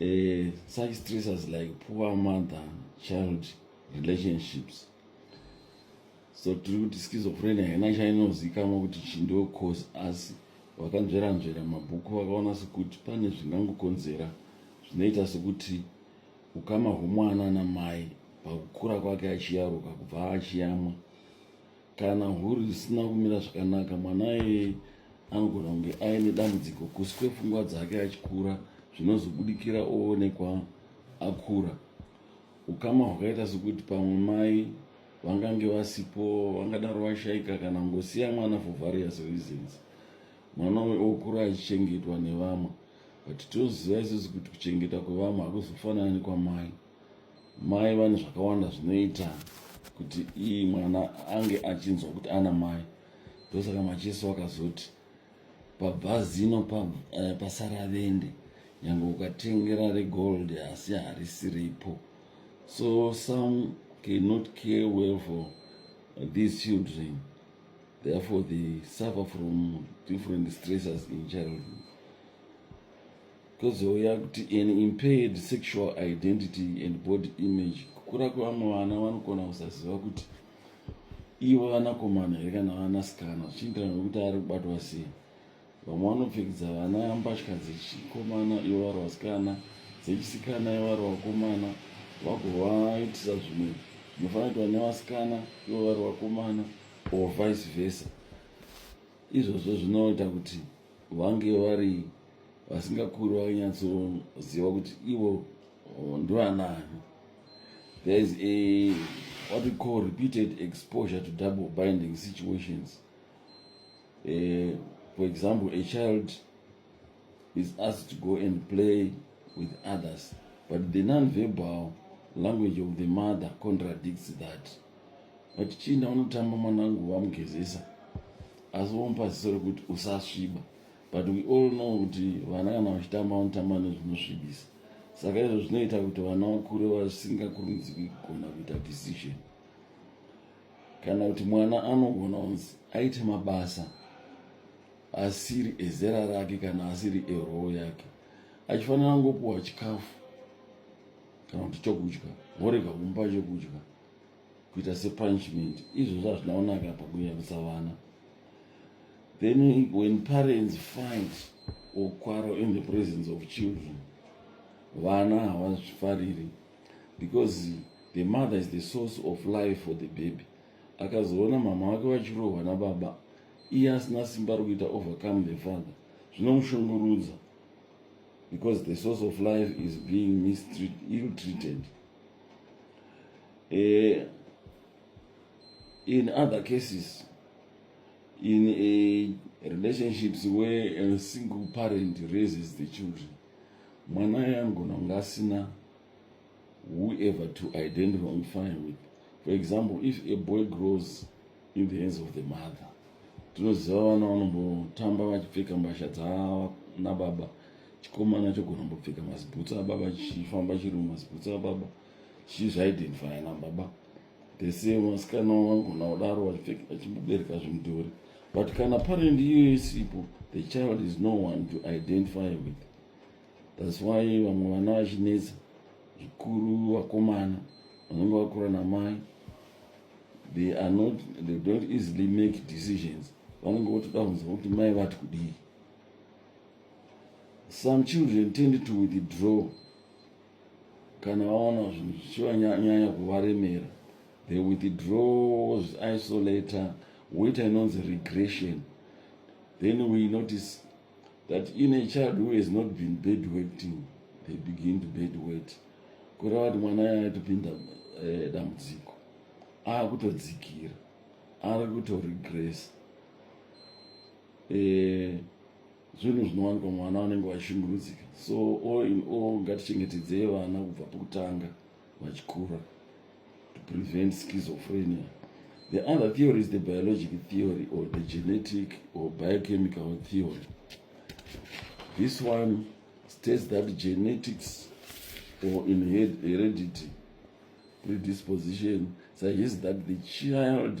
uh, such stressors like poor mother child relationships so tiri kuti schizophrenia haina chainozikamwa kuti chindiwo cause asi vakanzveranzvera mabhuku vakaona sekuti pane zvingangokonzera zvinoita sekuti ukama hwomwana namai pakukura kwake achiyaruka kubva achiyamwa kana huru isina kumira zvakanaka mwana iyeye anogona kunge aine dambudziko kusi kwepfungwa dzake achikura zvinozobudikira oonekwa akura ukama hwakaita sekuti pamwe mai vangange vasipo vangadaro vashaika kana ngosiya mwana for various reasons mwana uyo okura achichengetwa nevamwe but tinoziva isusu kuti kuchengeta kwevamwe hakuzofanani kwamai mai vane zvakawanda zvinoita kuti iyi mwana ange achinzwa kuti ana mai ndosaka macheso akazoti pabva zino eh, pasara pa vende nyange ukatengera regold asi harisi ripo so some cannot care well for these children therefore they suffer from different stresses in childhood kozouya kuti an impaired sexual identity and body image kukura kwevamwe vana vanogona kusaziva kuti ivo vanakomana here kana vanasikana zvichienderana nokuti ari kubatwa sei vamwe vanopfekedza vana mbatya dzechikomana ivo vari vasikana dzechisikana ivo vari vakomana vagovaitisa zvimwe zvinofanira kuitwa nevasikana ivo vari vakomana or vice versa izvozvo zvinoita kuti vange vari vasingakuri vakanyatsoziva kuti ivo oh, ndovanani there is a what we call repeated exposure to double binding situations uh, for example a child is asked to go and play with others but the non-verbal language of the mother contradicts that but chinda unotamba mwanangu wamugezesa asi womupa ziso rekuti usasviba but we all know kuti vana kana vachitamba vanotamba nezvinosvibisa saka izvo zvinoita kuti vana vakure vasingakurumidziki kugona kuita decision kana kuti mwana anogona kunzi aite mabasa asiri ezera rake kana asiri eroho yake achifanira ngopuwa chikafu kana kuti chokudya vorega kumupa chokudya kuita sepunishment izvozvo hazvina kunaka apa kunyarutsa vana then when parents fight or quarrel in the presence of children vana havazvifariri because the mother is the source of life for the baby akazoona mama wake vachirohwa nababa iye asina simba rokuita overcome the father zvinomushungurudza because the source of life is being mistreat, ill treated eh, in other cases in a relationships where a single parent raises the children mwana yangona kunge asina whoever to identify with for example if a boy grows in the hands of the mother tinoziva vana vanombotamba vachipfeka mbasha dzaanababa chikomana chogona mbopfeka mazibhutsa ababa chifamba chiri mumazibhutsa ababa chizvaidentifya na baba dese vasikana vangona kudaro vachimbobereka zvimudhori but kana parent iyoyo isipo the child is no one to identify with thats why vamwe vana vachinetsa zvikuru vakomana vanenge vakura namai they are not they don't easily make decisions vanenge votoda kunzwa kuti mai vati kudii some children tend to withdraw kana vaona zvinhu zvichivanyanya kuvaremera they withdraw zviisolator woita inonzi regression then we notice that in a child who has not been bed wetting they begin to bed wet kureva kuti mwana aya atopinda eh, dambudziko ava kutodzikira ari kutoregress eh, zvinhu zvinowanikwa mwana vanenge vachishungurudzika so all in all ngatichengetedzei vana kubva pokutanga vachikura to prevent schizophrenia the other theory is the biologic theory or the genetic or biochemical theory this one states that genetics or in heredity predisposition suggests that the child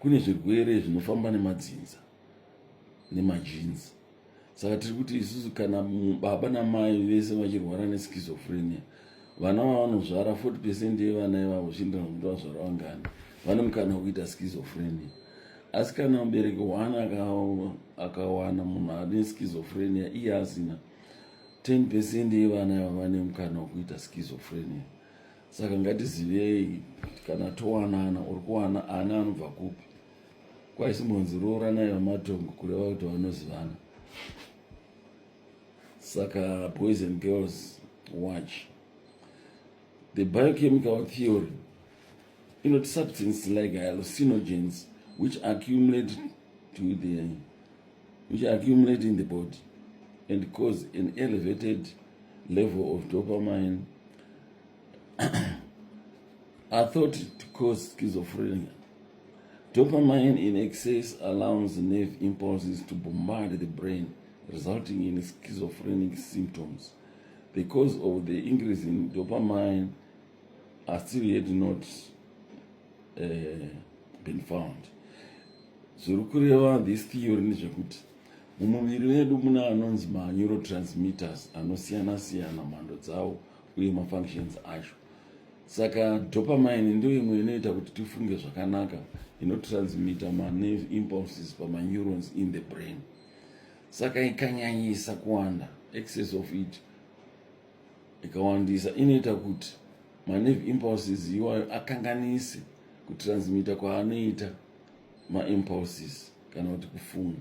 kune zvirwere zvinofamba nemadzinza nemajinzi saka tiri kuti isusu kana baba namai vese vachirwara neschizophrenia vana vavanozvara 40 percent yevana ivavo zviindira kuti vazvara vangani vane mukana wekuita schizophrenia asi kana mubereki one akawana munhu ane schizophrenia iye asina 10 percent yevana ivavo vane mukana wekuita schizophrenia saka ngatizivei kana towanana or kuwana ana anobva kupi kwaisi munzi rooranai vamatongo kureva kuti vanozivana saka boys and girls watch the biochemical theory inoti substance like hallucinogens which accumulate to the which accumulate in the body and cause an elevated level of dopamine I thought it caused schizophrenia. Dopamine in excess allows nerve impulses to bombard the brain, resulting in schizophrenic symptoms. The cause of the increase in dopamine are still yet not uh, been found. zviri kureva this theory ndezvekuti mumuviri medu muna anonzi maneurotransmitters anosiyana siyana mhando dzawo uye mafunctions acho saka dopamine ndiyo imwe inoita kuti tifunge zvakanaka inotransmita manerve impulses pamaneurons in the brain saka ikanyanyisa kuwanda excess of it ikawandisa inoita kuti manerve impulses iwayo akanganise kutransmita kwaanoita maimpulses kana kuti kufunga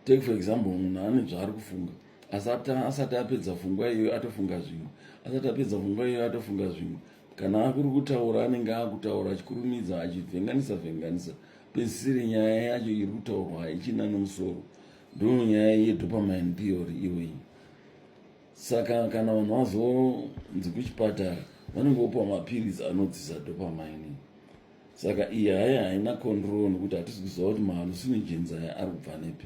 take for example munhu ane zvaari kufunga asati asati apedza fungwa iyoyo atofunga zvimwe asati apedza fungwa iyoyo atofunga zvimwe kana akuri kutaura anenge akutaura achikurumidza achivhenganisa vhenganisa pesisiri nyaya yacho iri kutaurwa haichina nomusoro ndo nyaya yedopamine theory iyoyi saka kana vanhu vazonzi kuchipatara vanenge vopiwa mapiritsi anodzisa dopamine saka iyi haya haina control nokuti hatisi kuziva kuti mahallucinogens aya ari kubva nepi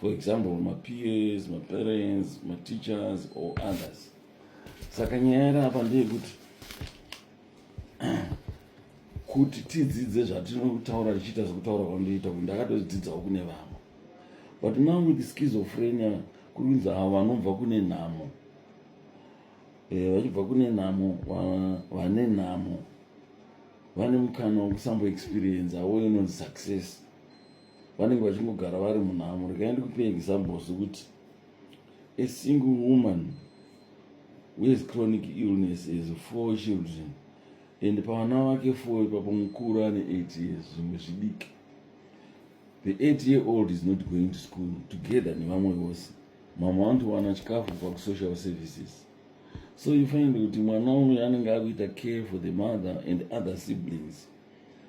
for example mapeers maparents mateachers or others saka nyaya iri apa ndeyekuti kuti tidzidze zvatinotaura tichiita zvekutaura kwandoita kuti ndakatodzidzawo kune vamwe but now with schizophrenia kuri kunzi avo vanobva kune nhamo eh, vachibva kune nhamo vane nhamo vane mukana wekusamboexperienza wo inonzi success vanenge vachingogara vari munhamo rekai ndikupe examples kuti a single woman wehas chronic illness has four children and pavana vake four ipapo mukuru ane eight years zvimwe zvidiki the eight year old is not going to school together nevamwe vose mamwe vanotowana chikafu kubva kusocial services so you find kuti mwana uyu anenge akuita care for the mother and other siblings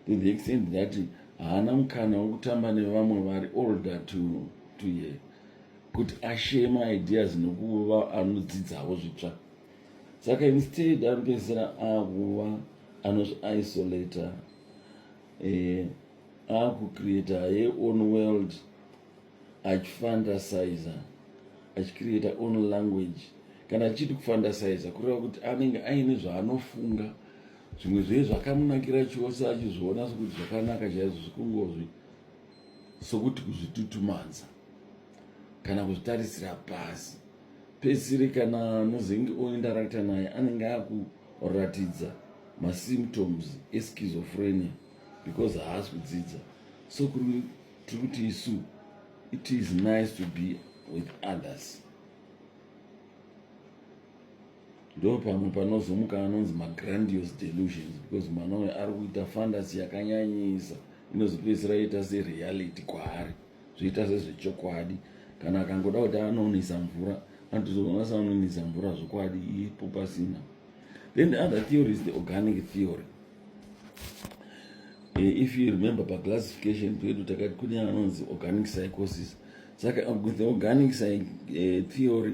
to the extent that haana mukana wekutamba nevamwe vari older to, to ye kuti ashare maideas nokuva anodzidzawo zvitsva saka instead ari kupedzisira akuva anozviisolator eh, akucreata ye own world achifantasiza achicreata own language kana achiti kufantasiza kureva kuti anenge aine zvaanofunga zvimwe zviye zvakamunakira chose achizviona sokuti zvakanaka chaizvo zvikungozvi sokuti kuzvitutumanza kana kuzvitarisira pasi pesiri kana anozenge oindarakta naye anenge akuratidza masymptoms eschizophrenia because haasi kudzidza so tiri kuti isu it is nice to be with others ndo pamwe panozomuka anonzi magrandios delusions because mwana uyo ari kuita fandasi yakanyanyisa inozopedzisira ita sereality kwaari zvoita sezvechokwadi kana akangoda kuti anonisa mvura anotozogona sa anonisa mvura zvokwadi ipo pasina then the other theory is the organic theory eh, if you remember paclassification pedu takati kune anonzi organic psychosis saka uh, the organic eh, theory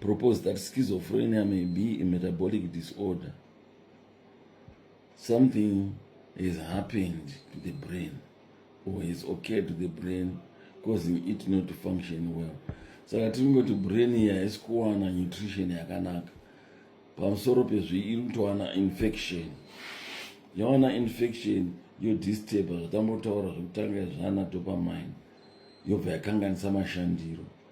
propose that schizophrenia may be a metabolic disorder something has happened to the brain or has occurred to the brain causing it not to function well saka tiri kungoti brain iyi haisi kuwana nutrition yakanaka pamusoro pezvi iri kutowana infection yawana infection yodisturba zvatambotaura zvekutanga zvana dopamine yobva yakanganisa mashandiro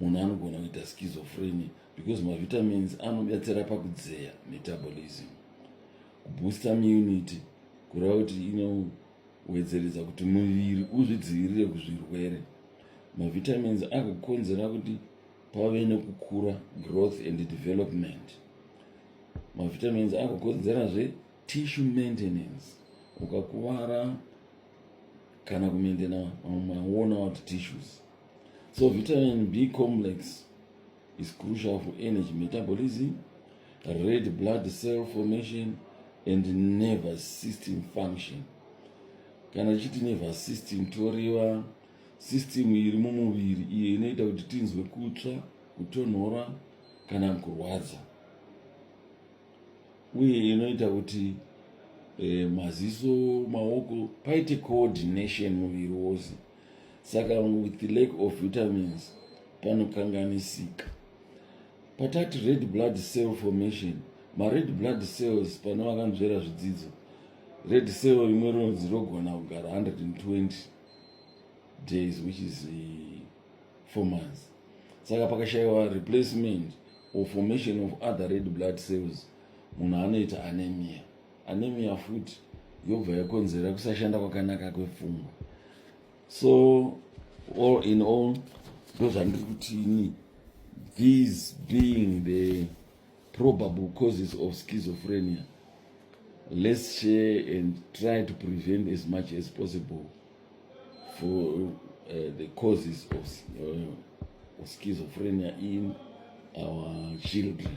munhu anogona kuita schizophrenia because mavitamins anobetsera pakudzeya metabolism kubooster munity kureva kuti inowedzeredza kuti muviri uzvidzivirire kuzvirwere mavitamins agokonzera kuti pave nekukura growth and development mavitamins agokonzerazve tissue maintenance ukakuvara kana kumaintena maona wati tissues So vitamin B complex is crucial for energy metabolism, red blood cell formation and nervous system function. Kana tichiti nervous system toreva system iri mumuviri iyo inoita kuti tinzwe kutsva, kutonhora kana kurwadza uye inoita kuti eh, maziso maoko paite coordination muviri wose. saka with lack of vitamins panokanganisika patati red blood cell formation mared blood cells pane vakanzvera zvidzidzo red cell rimwe rinonzi rogona kugara 120 days which is eh, four months saka pakashayiwa replacement or formation of other red blood cells munhu anoita anemia anemia futi yobva yakonzera kusashanda kwakanaka kwepfungwa so all in all ndozvandiri kuti ini these being the probable causes of schizophrenia let's share and try to prevent as much as possible for uh, the causes of, uh, of schizophrenia in our children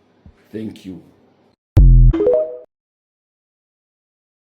thank you